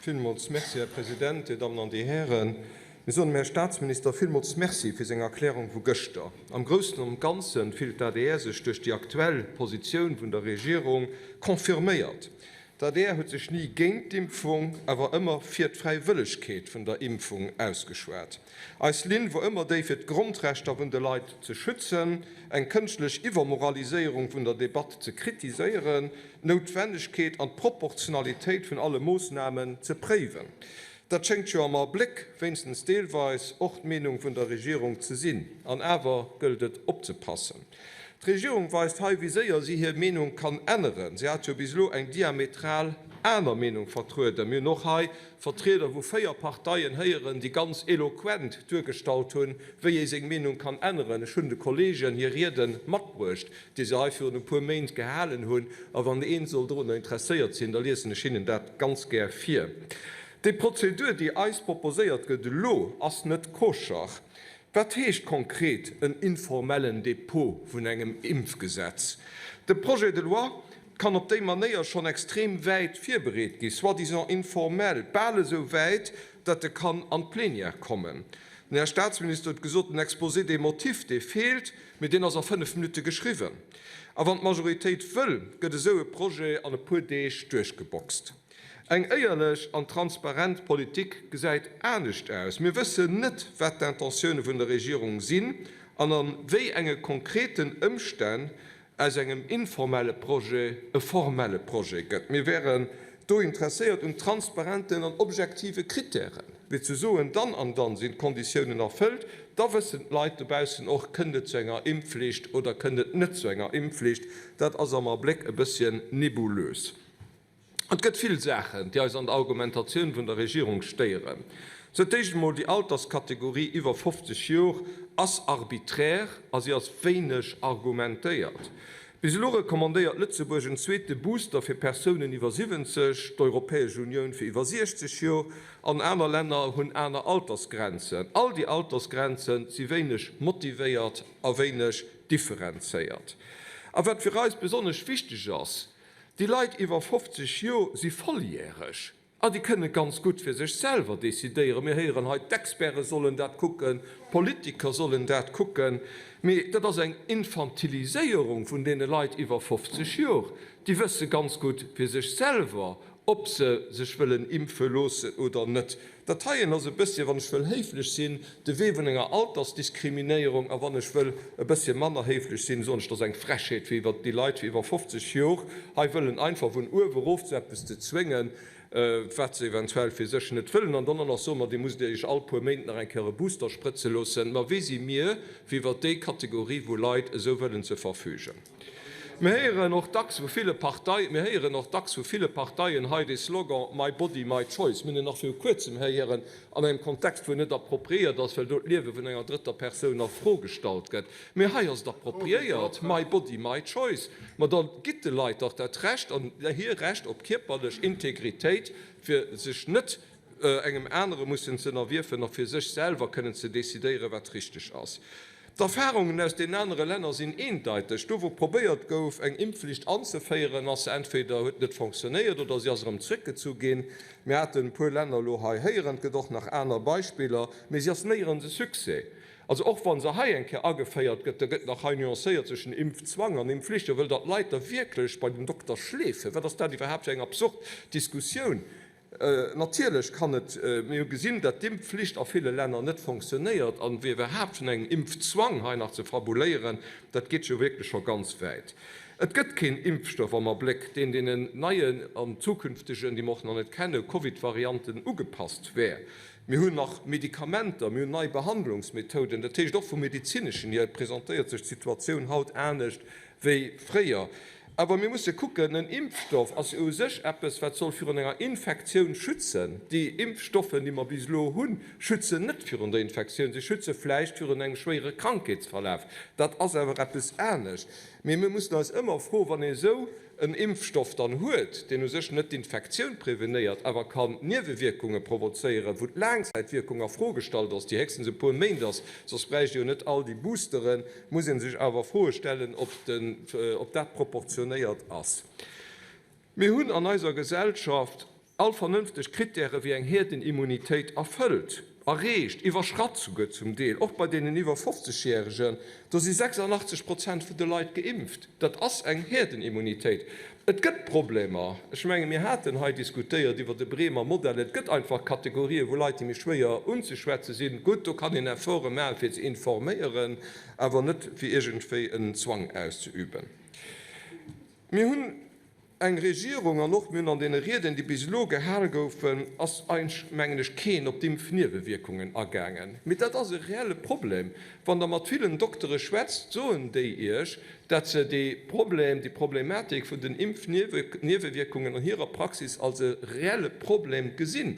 Villmools Merci, Här President, Dir Dammen an Dir Hären. Mir soen dem Här Statsminister villmools Merci fir seng Erklärung vu gëschter. Am Groussen an Ganze fillt d'ADR sech duerch déi aktuell Positioun vun der Regierung confirméiert. D'ADR huet sech ni géint d'Impfung, awer ëmmer fir d'Fräiwëllegkeet vun der Impfung ausgeschwat. Eis Linn wor ëmmer déi fir d'Grondrechter vun de Leit ze schützen, eng kënschtlech Iwwermoraliséierung vun der Debatt ze kritiséieren, d'Noutwennegkeet an d'Proportionalitéit vun alle Moossnamen ze préiwen. Dat schéngt jo am Abléck wéinstens deelweis och d'Meenung vun der Regierung ze sinn. An awer gëllt et opzepassen. D'Regierung weist hei, wéi séier si hir Meenung kann änneren. Si hat jo bis elo eng diametral aner Meenung vertrueden. Mir hunn och hei Vertrieder vu 4 Parteien héieren, déi ganz eloquent duergestallt hunn, wéi ee seng Meenung kann änneren. Ech hunn de Kolleegen hir Riede matbruecht, déi se hei virun e puer Méint gehalen hunn, a wann ee sollt dorunner interesséiert sinn, da liesen ech hinnen dat ganz gär vir. Déi Prozedur, déi eis proposéiert gëtt elo, ass net koscher. Wat heescht konkret en informellen Dépôt vun engem Impfgesetz? De Projet de loi, Kann op déi Manéier schonn extrem wäit virbereet gi, soi-disant informell, bal esou wäit, datt e kann an d'Plenière kommen. Den Här Staatsminister huet gesot, den Exposé des motifs, dee feelt, mee deen ass a fënnf Minutte geschriwwen. A wann d'Majoritéit wëll, gëtt esou e Projet an e puer Deeg duerchgeboxt. Eng éierlech an transparent Politik gesäit anescht aus. Mir wëssen net, wat d'Intentioune vun der Regierung sinn an a wéi enge konkreten Ëmstänn aus engem informelle Projet e formelle Projet gëtt. Mir wären do interesséiert un transparenten an objektive Krittären, wéi ze soen, dann an dann sinn d'Konditiounen erfëllt, da wëssen d'Leit dobaussen och, kënnt et zu enger Impfflicht oder kënnt et net zu enger Impfflicht. Dat ass am Abléck e bësschen nebulös. Et gëtt vill Saachen, déi eis an der Argumentatioun vun der Regierung stéieren. Sou dat éischt emol, déi Alterskategorie iwwer 50 Jor ass arbiträr a si ass wéineg argumentéiert. Bis elo recommandéiert Lëtzebuerg en zweete Booster fir Persounen iwwer 70, d'Europäesch Unioun fir iwwer 60 Jor an aner Länner hunn aner Altersgrenzen. All déi Altersgrenze si wéineg motivéiert a wéineg differenzéiert. A wat fir eis besonnesch wichteg ass, Déi Leit iwwer 50 Joer si volljäreg a déi kënne ganz gutt fir sech selwer decidéieren. Mir héieren hei, d'Experte sollen dat kucken, d'Politiker sollen dat kucken. Mee dat ass eng Infantiliséierung vun deene Leit iwwer 50 Joer. Déi wësse ganz gutt fir sech selwer, ob se sech wëllen impfe loossen oder net. Dat heien ass e bëssche, wann ech wëll héiflech sinn, de Wee vun enger Altersdiskriminéierung. A wann ech wëll e bëssche manner héiflech sinn, soen ech, dass eng Frechheet, fir iwwer déi Leit, fir iwwer 50 Jor hei wëllen einfach vun uewe rof zu eppes ze zwéngen, wat se eventuell fir sech net wëllen. An dann och nach soen, Ma Dir musst Iech all puer Méint nach eng Kéier e Booster sprëtze loossen. Ma wie si mir, fir iwwer déi Kategorie vu Leit esou wëllen ze verfügen? Mir héieren och dacks vu ville Parteien, mir héieren och dacks vu ville Parteien hei dee Slogan My body, my choice. Mir hunn en nach viru Kuerzem héieren an engem Kontext, wou en net appropriéiert ass, well do d'Liewe vun enger drëtter Persoun a Fro gestallt gëtt. Mee hei ass et appropriéiert, My body, my choice. Ma da gitt de Leit dach dat Recht an hir Recht op kierperlech Integritéit, fir sech net engem anere mussen ze ënnerwierfen a fir sech selwer kënnen ze decidéieren, wat richteg ass. D'Erfarungen aus deenen anere Länner sinn eendeiteg, Do wou probéiert gouf, eng Impfflicht anzeféieren, ass se entweder huet net fonctionnéiert oder se ass erëm zréckgezu ginn. Mir haten e puer Länner elo hei héieren, et gëtt och nach aner Beispiller, mee se ass néierens e Succès. Also och wa se hei eng Kéier ageféiert gëtt, da gëtt nach hei nuancéiert zwëschen Impfzwang an Impfflicht. A wëll da d'Leit da wierklech bei den Dokter schleefen? Wat ass dat iwwerhaapt fir eng absurd Diskussioun? Natierlech kann et, mir hu gesinn, datt d'Impfflicht a ville Länner net fonctionnéiert, an iwwerhaapt vun engem Impfzwang hei nach ze fabuléieren, dat geet jo wierklech scho ganz wäit. Et gëtt keen Impfstoff am Abléck, deen deenen neien an zukünftegen, déi mer och nach net kennen, Covid-Varianten ugepasst wär. Mir hunn nach Medikamenter, mir hunn nei Behandlungsmethoden, dat heescht och vum Medizineschen hier presentéiert sech d'Situatioun haut anescht wéi fréier. Awer mir musse kucken, en Impfstoff ass jo u sech eppes, wat soll virun enger Infektioun schützen. Déi Impfstoffen, déi mer bis elo hunn, schützen net virun der Infektioun. Si schütze vläicht virun engem schwéiere Krankheetsverlaf. Dat ass awer eppes anescht. Mee mir mussen eis ëmmer froen, wann ee esou en Impfstoff dann huet, deen u sech net d'Infektioun prevenéiert, awer kann Niewewierkunge provozéieren, wou d'Laangzäitwierkung a Fro gestallt ass, déi héchstens e puer Méint ass, soss bräicht ee jo net all déi Boosteren, muss ee sech awer Froe stellen, ob dat proportionéiert ass. Mir hunn an eiser Gesellschaft all vernënfteg Krittäre wéi eng Hierdenimmunitéit erfëllt, erreecht, iwwerschratt souguer zum Deel, och bei deenen iwwer 50 Jäeregen. Do si 86 Prozent vun de Leit geimpft. Dat ass eng Hierdenimmunitéit. Et gëtt Problemer. Ech menge mir haten hei diskutéiert iwwert e Bremer Modell. Et gëtt einfach Kategorien, wou Leit, déi méi schwéier unzeschwätze sinn. Gutt, do kann een Efforte maachen, fir ze informéieren, awer net fir iergendwéi en Zwang auszeüben. Mir hunn eng Regierung an och mir hunn an deene Rieden, déi bis elo gehal goufen, ass eigentlech mengen ech keen op d'Impfniewewierkungen agaangen. Mee dat ass e reelle Problem. Wann Der mat villen Doktere schwätzt, soen déi Iech, dat se de Problem, déi Problematik vun den Impfniewewierkungen an hirer Praxis als e reelle Problem gesinn.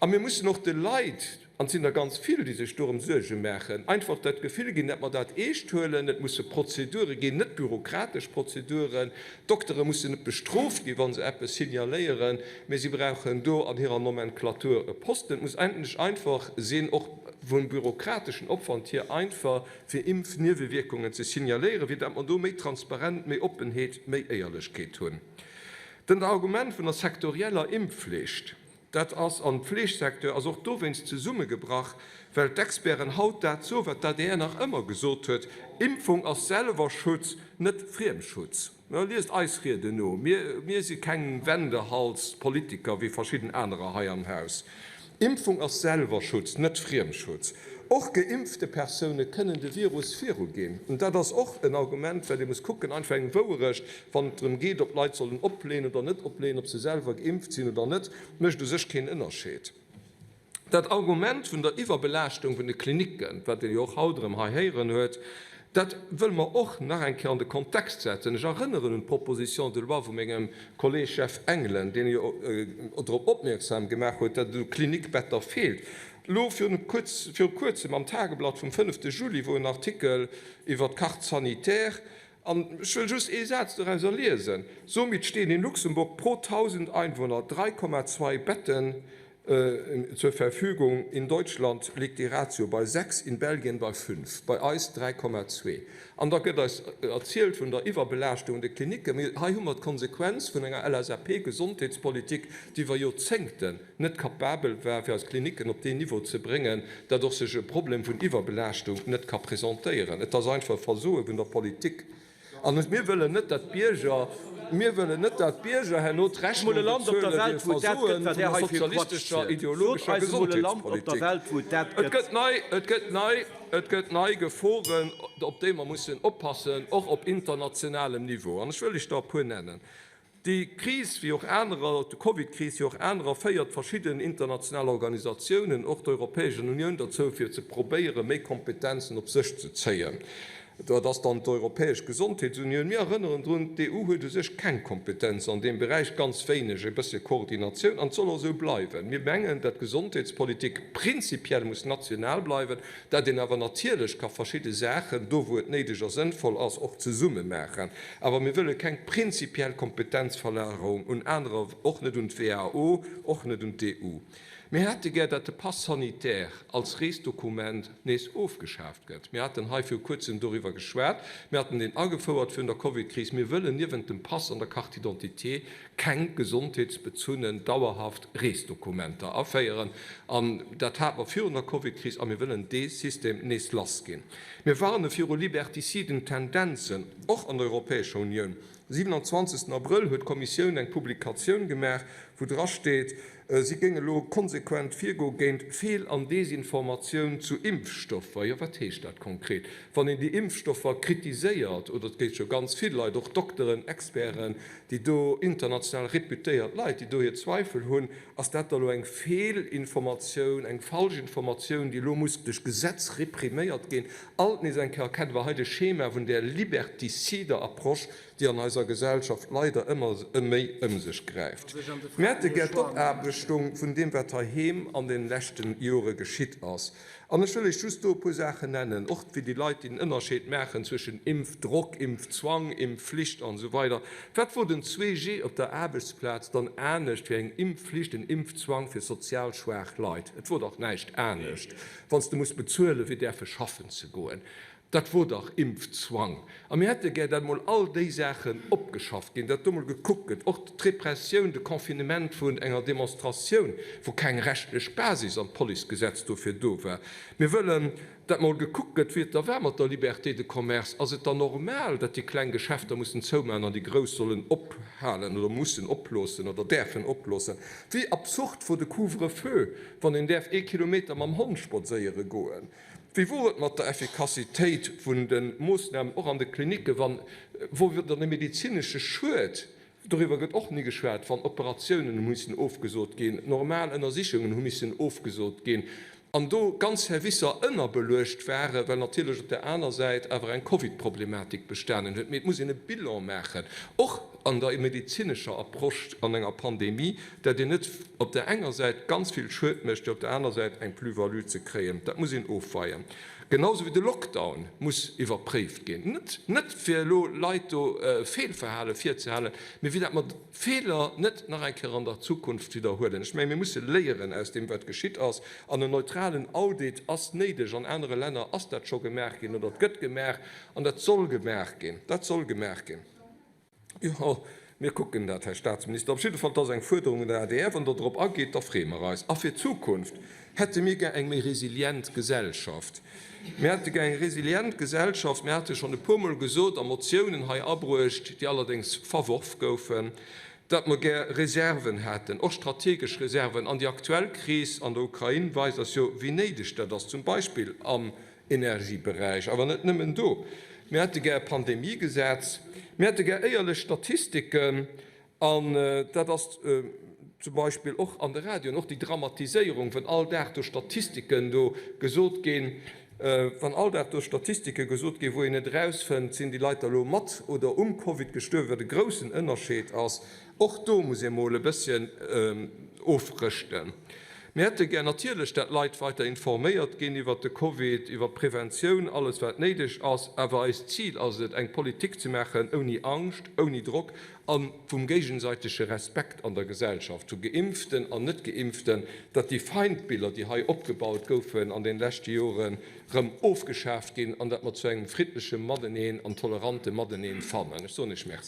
A mir mussen och de Leit, an et sinn der ganz vill, déi sech dorëm Suerge maachen, einfach dat Gefill ginn, dat mer dat eescht huelen. Et musse Prozedure ginn, net bürokratesch Prozeduren. D'Doktere mussen net bestrooft ginn, wa se eppes signaléieren, mee si brauchen do an hirer Nomenklatur e Posten. Et muss endlech einfach sinn, och vum bürokrateschen Opwand hier einfach, fir Impfniewewierkungen ze signaléieren, fir datt mer do méi Transparenz, méi Oppenheet, méi Éierlechkeet hunn. Dann dat Argument vun der sektorieller Impfflicht, dat ass am Fleegsecteur, ass och dowéinst zesummegebrach, well d'Experten haut dat soen, wat d'ADR nach ëmmer gesot huet, Impfung ass selwer Schutz, net Friemschutz. Mä liest eis Rieden no. Mir, mir si keng Wendehals-Politiker wéi verschidden anerer hei am Haus. Impfung ass Selwerschutz, net Friemschutz. Och geimpfte Persoune kënnen de Virus viruginn. An dat ass och en Argument, well ee muss kucken, einfach eng Wouerecht, wann et drëm geet, ob d'Leit sollen opléen oder net opléen, ob se selwer geimpft sinn oder net, mécht u sech keen Ënnerscheed. Dat Argument vun der Iwwerbelaaschtung vun de Klinicken, wat ee jo och haut erëm hei héieren huet, dat wëlle mer och nach eng Kéier an de Kontext setzen. Ech erënneren un d'Proposition de loi vu mengem Kolleeg Jeff Engelen, deen jo drop opmierksam gemaach huet, datt et u Klinikbetter feelt. Elo virun Kuerzem am Tageblatt vum fënnefte Juli wor en Artikel iwwert d'Carte sanitaire, an ech wëll just ee Saz dorauser liesen, Somit stehen in Luxemburg pro 1.000 Einwohner 3,2 Betten zur Verfügung. In Deutschland liegt déi Ratio bei 6, in Belgien bei 5, bei eis 3,2. An da gëtt eis erzielt vun der Iwwerbelaaschtung an de Klinicken. Mee hei hu mer d'Konsequenz vun enger LSAP-Gesondheetspolitik, déi iwwer Joerzéngten net capabel war, fir eis Klinicken op deen Niveau ze bréngen, datt och sech e Problem vun Iwwerbelaaschtung net ka presentéieren. Et ass einfach e Versoe vun der Politik. An mir wëllen net, datt d'Bierger, mir wëllen net, datt d'Bierger herno d'Rechnung bezuele fir d'Versoe vun der sozialistescher, ideologescher Gesondheetspolitik. Et gëtt nei, et gëtt nei, et gëtt nei Geforen, op déi mer mussen oppassen, och op internationalem Niveau. An ech wëll lech der e puer nennen. Déi Kris, wéi och anerer, d'Covidkris, wéi och anerer, féiert verschidden international Organisatiounen, och d'Europäeschen Unioun, derzou fir ze probéieren, méi Kompetenzen op sech ze zéien. Dat ass dann d'Europäesch Gesondheetsunioun. Mir erënneren drun, d'EU huet u sech keng Kompetenzen an deem Beräich, ganz wéineg, e bëssche Koordinatioun, an et soll och esou bleiwen. Mir mengen, dat d'Gesondheetspolitik prinzipiell muss national bleiwen, dat een awer natierlech ka verschidde Saachen, do wou et néideg a sënnvoll ass, och zesumme maachen, awer mir wëlle keng prinzipiell Kompetenzverlagerung un anerer, och net un d'WHO, och net un d'EU. Mir hätte gär, datt de Pass sanitaire als Reesdokument nees ofgeschaaft gëtt. Mir haten hei viru Kuerzem doriwwer geschwat, mir hatten deen agefouert virun der Covidkris. Mir wëllen niewent dem Pass an der Carte d'identité keng gesondheetsbezunnen dauerhaft Reesdokumenter aféieren, an dat hat mer virun der Covidkris, a mir wëllen dee System nees lass ginn. Mir warne viru liberticiden Tendenzen, och an der Europäescher Unioun. De 27 Abrëll huet d'Kommissioun eng Publikatioun gemaach, wou drasteet, Si géing elo konsequent virgo géint Feel an Desinformatioun zu Impfstoffer. Jo, wat heescht dat konkret? Wann een déi Impfstoffer kritiséiert, oder et gétt jo ganz vill Leit, och Dokteren, Experten, déi do international réputéiert Leit, déi do hir Zweifel hunn, ass dat da lo eng Feelinformatioun, eng falsch Informatioun, déi elo muss duerch Gesetz repriméiert ginn? Alt nees eng Kéier kennen wir hei de Schema vun där liberticider Approche. déi an eiser Gesellschaft leider ëmmer méi ëm sech gräift. Mir hätte gär d'Opaarbechtung vun deem, wat heiheem an de leschte Jore geschitt ass. An ech wëll lech just do e puer Saachen nennen, och fir déi Leit, déi den Ënnerscheed maachen zwëschen Impfdrock, Impfzwang, Impfflicht an esou weider. Wat wor den 2G op der Aarbechtsplaz dann anescht wéi eng Impfflicht, en Impfzwang fir sozial schwaach Leit? Et wor dach näischt anescht. Wann s de muss bezuelen, fir däerfe schaffen ze goen, Dat wor dach Impfzwang. A mir hätte gär, datt emol all déi Saachen opgeschafft ginn, datt do emol gekuckt gëtt, och d'Repressioun, de Confinement vun enger Demonstratioun, wou keng rechtlech Basis an d'Policegesetz dofir do war. Mir wëllen, datt emol gekuckt gëtt, wéi et da war mat der Liberté de commerce. Ass et dann normal, datt déi kleng Geschäfter mussen zoumaachen an déi grouss sollen ophalen oder mussen oploossen oder däerfen oploossen? Wéi absurd wor de Couvre-feu, wann een däerf ee Kilometer mam Hond spadséiere goen? Wéi wor et mat der Effikassitéit vun de Moossnamen, och an de Klinicken, wann, wor et dann e medezinesche Schued? Doriwwer gëtt och ni geschwat. Wann Operatiounen hu missen ofgesot ginn, normal Ënnersichungen hu missen ofgesot ginn an do ganz Servicer ënnerbeluecht waren, well natierlech op där aner Säit awer eng Covid-Problematik bestanen huet. Mee et muss een e Bilan maachen, och an der medezinescher Approche an enger Pandemie. dat een net op där enger Säit ganz vill Schued mécht, fir op där aner Säit eng Plus-value ze kréien. Dat muss een ofweien. Genau sou wéi de Lockdown muss iwwerpréift ginn, net, net fir elo Leit do e Feelverhale virzehalen, mee fir dat mer d'Feeler net nach eng Kéier an der Zukunft widderhuelen. Ech menge mir musse léieren aus deem wat geschitt ass, an en neutralen Audit ass néideg. An anere Länner ass dat scho gemaach ginn, oder et gëtt gemaach, an dat soll gemaach ginn. Dat soll gemaach ginn. Jo, mir kucken dat, Här Statsminister. Op jidde Fall, dass eng Fuerderung un den adr, wann Der drop ageet, da freeë mer eis. A fir d'Zukunft hätte mir gär eng méi resilient Gesellschaft. Mir hätte gär eng resilient Gesellschaft. Mir hate schonn e puermol gesot a Motiounen hei abruecht, déi allerdéngs verworf goufen, datt mer gär Reserven hätten, och strategesch Reserven. An déi aktuell Kris an der Ukrain weist eis jo, wéi néideg dat ass, zum Beispill am Energieberäich, awer net nëmmen do. Mir hätte gär e Pandemiegesetz. Mir hätte gär éierlech Statistiken. An dat ass zum Beispill och an de Radioen, och déi Dramatiséierung, wann all Dag do Statistiken do gesot ginn, wann all Dag do Statistike gesot ginn, wou een net erausfënnt, sinn déi Leit da lo mat oder um Covid gestuerwen, wat e groussen Ënnerscheed ass. Och do muss ee mol e bësschen ofrëschten. Mir hätte gär natierlech, dat Leit weiter informéiert ginn iwwert de Covid, iwwert d'Preventioun, alles wat néideg ass, awer eist Zil ass et, eng Politik ze maachen ouni Angscht, ouni Drock a vum géigesäitege Respekt an der Gesellschaft, vu Geimpften an Net-Geimpften, datt déi Feindbiller, déi hei opgebaut goufen an den leschte Joren, rëm ofgeschaaft ginn an datt mer zu engem friddleche Mateneen an tolerante Mateneen fannen. Ech soen Iech Merci.